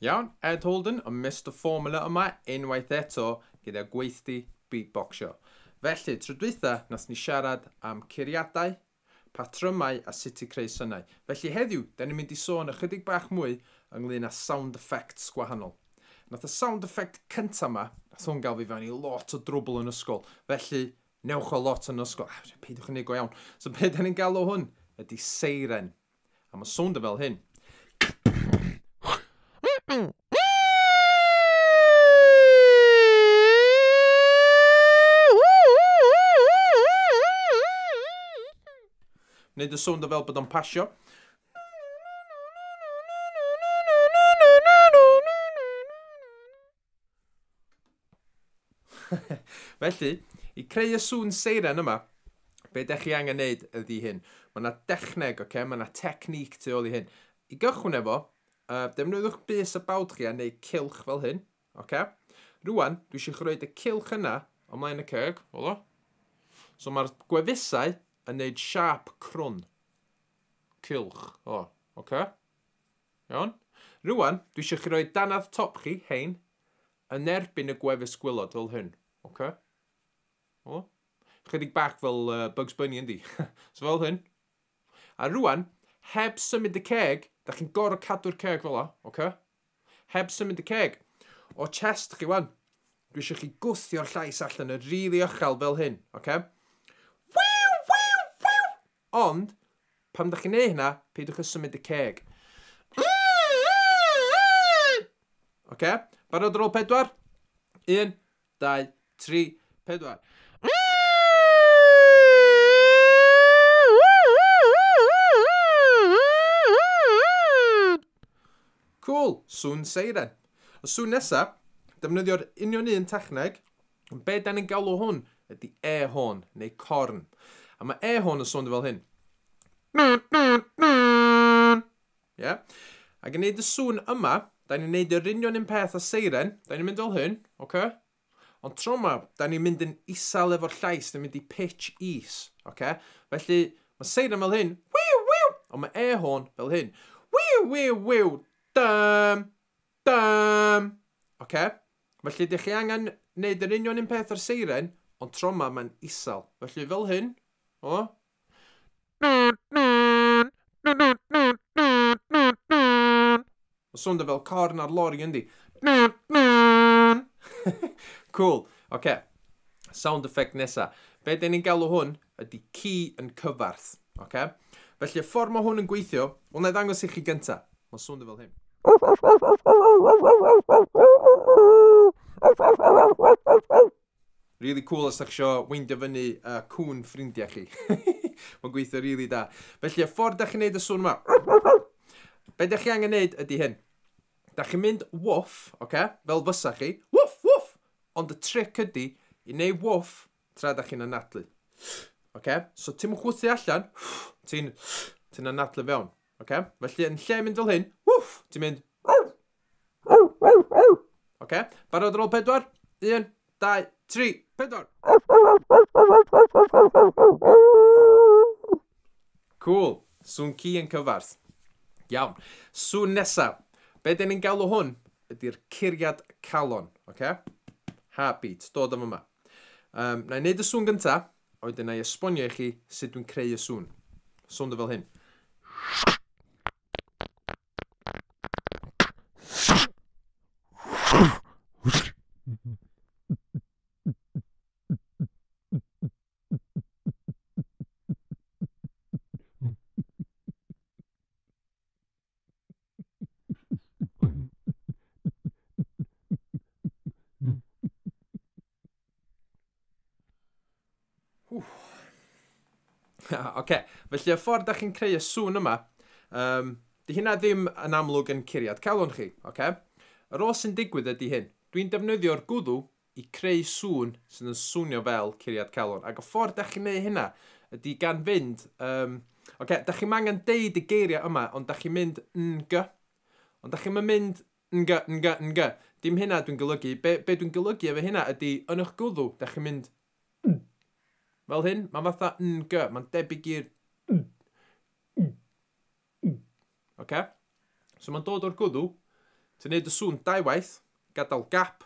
Iawn, Ed Holden yn Mister Formula yma unwaith eto gyda gweithdy beatboxio. Felly, tro dwytha nath ni siarad am curiadau, patrymau a sut i creu synau. Felly heddiw, da ni'n mynd i sôn ychydig bach mwy ynglyn â sound effects gwahanol. Nath y sound effect cynta 'ma, nath hwn gael fi fewn i lot o drwbl yn ysgol, felly Newch o lot yn ysgol. Ah, peidiwch yn ei go iawn. So be da ni'n galw hwn? Ydy seiren. A mae sŵnd yn fel hyn. Wneud y sŵnd o fel bod o'n pasio. Felly, i creu y sŵn seiren yma, be da chi angen neud ydy hyn. Mae yna dechneg, oce, okay? mae yna technique tu ôl i hyn. I gychwyn efo, uh, defnyddiwch bus y bawd chi a neu cilch fel hyn, oce? Okay? Rwan, dwi eisiau chi roed y cilch yna ymlaen y ceg, o. So mae'r gwefusau yn neud siap crwn. Cilch, o, oce? Okay? Iawn? Rŵan, dwi eisiau chi roi dannedd top chi, hein, yn erbyn y gwefus gwylod fel hyn. OK? O? Chydig bach fel uh, Bugs Bunny yndi. so fel hyn. A rŵan, heb symud y ceg, da chi'n gorau cadw'r ceg fel o, OK? Heb symud y ceg. O chest chi wan. Dwi eisiau chi gwthio'r llais allan yn rili really fel hyn, OK? Ond, pan dych chi'n ei hynna, peidiwch â symud y ceg. Oce? Barod ar ôl pedwar? Un, dau, tri, pedwar. Cool, sŵn seiren. Y sŵn nesaf, defnyddio'r union un techneg, Ond be da ni'n galw hwn ydy e-hôn, neu corn. A mae e-hôn yn swnio fel hyn. Yeah? Ac yn neud y sŵn yma, da ni'n neud yr union un peth a seiren, da ni'n mynd fel hyn, oce? Okay? Ond tro yma, da ni'n mynd yn isel efo'r llais, da ni'n mynd i pitch is, oce? Okay? Felly, mae seiren fel hyn, wiw, wiw, ond mae e-hôn fel hyn, wiw, wiw, wiw, dym, Bam! Ocê, felly dych chi angen neud yr union un peth â'r seiren, ond tro ma mae'n isel. Felly fel hyn, o. Mae'n swnda fel corn ar lori yndi? Cŵl. Ocê, sound effect nesa. Be 'den ni'n galw hwn? ydy ci yn cyfarth. Oce? Felly y ffordd mae hwn yn gweithio, wel na i ddangos i chi gynta. Mae'n swnio fel hyn. Really cool os ydych eisiau weindio fyny y cwn ffrindiau chi. Mae'n gweithio rili really da. Felly, y ffordd da chi'n neud y swn yma. Be da chi angen neud ydy hyn. Da chi'n mynd woof, oce? Okay? Fel fysa chi. Woof, woof! Ond y trick ydy i neud woof tra da chi'n anadlu. Okay? So ti'n chwythu allan, ti'n ti anadlu fewn. Okay? Felly yn lle mynd fel hyn, wff, ti'n mynd... Okay? Barod ar ôl pedwar? Un, dau, tri, pedwar! Cool. Sŵn ci yn cyfarth. Iawn. Sŵn nesa. Be dyn ni'n galw hwn ydy'r curiad calon. Okay? Heartbeat. Dod am yma. Um, na i wneud y sŵn gynta, oed yna i esbonio i chi sut dwi'n creu y sŵn. Sŵn dy fel hyn. Oce, okay. felly y ffordd da chi'n creu y sŵn yma, um, di hynna ddim yn amlwg yn curiad calon chi, oce? Okay? Yr ôl sy'n digwydd ydy hyn. Dwi'n defnyddio'r gwddw i creu sŵn sydd yn swnio fel curiad calon. Ac y ffordd da chi'n neud hynna ydy gan fynd... Um, Oce, okay, da chi'n angen deud y geiriau yma, ond da chi'n mynd ng. Ond da chi'n mynd ng, ng, ng. Dim hynna dwi'n golygu. Be, be dwi'n golygu efo hynna ydy, yn eich gwddw, da chi'n mynd ng. Fel hyn, mae'n fatha ng, mae'n debyg i'r ng. Ocê? So mae'n dod o'r gwddw, ti'n gwneud y sŵn dau waith, gadael gap,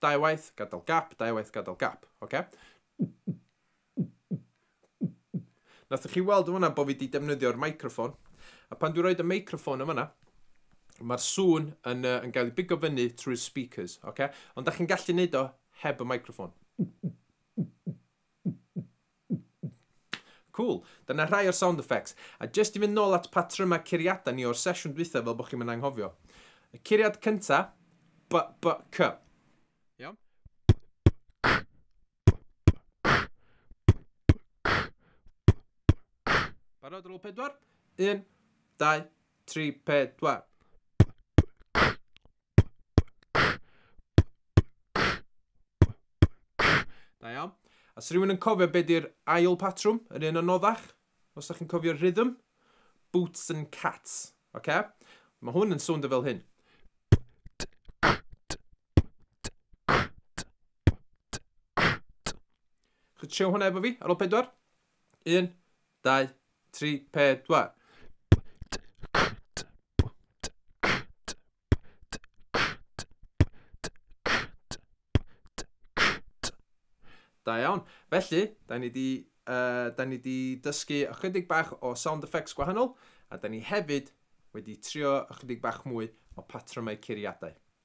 dau waith, gadael gap, dau waith, gadael gap. Ocê? Nathoch chi weld yn fanna bod fi wedi defnyddio'r microffon, a pan dwi'n rhoi y microffon yn fanna, mae'r sŵn yn, uh, yn gael ei bigo fyny trwy'r speakers, oce? Okay? Ond da chi'n gallu neud o heb y microffon. Cool. Dyna rhai o'r sound effects. A jyst i fynd nôl at patrymau curiadau ni o'r sesiwn dwytha fel bod chi'n mynd anghofio. Y curiad cynta, b, b, c. Iawn? Barod ar ôl pedwar? Un, dau, tri, pedwar. Da iawn. A sy'n rhywun yn cofio beth ydy'r ail patrwm, yr un anoddach? Os ydych chi'n cofio'r rhythm? Boots and cats. OK? Mae hwn yn swnda fel hyn. Chwtio hwnna efo fi ar ôl pedwar. 1, 2, 3, 4. Da iawn. Felly, da ni wedi uh, da ni wedi dysgu ychydig bach o sound effects gwahanol, a da ni hefyd wedi trio ychydig bach mwy o patrymau curiadau.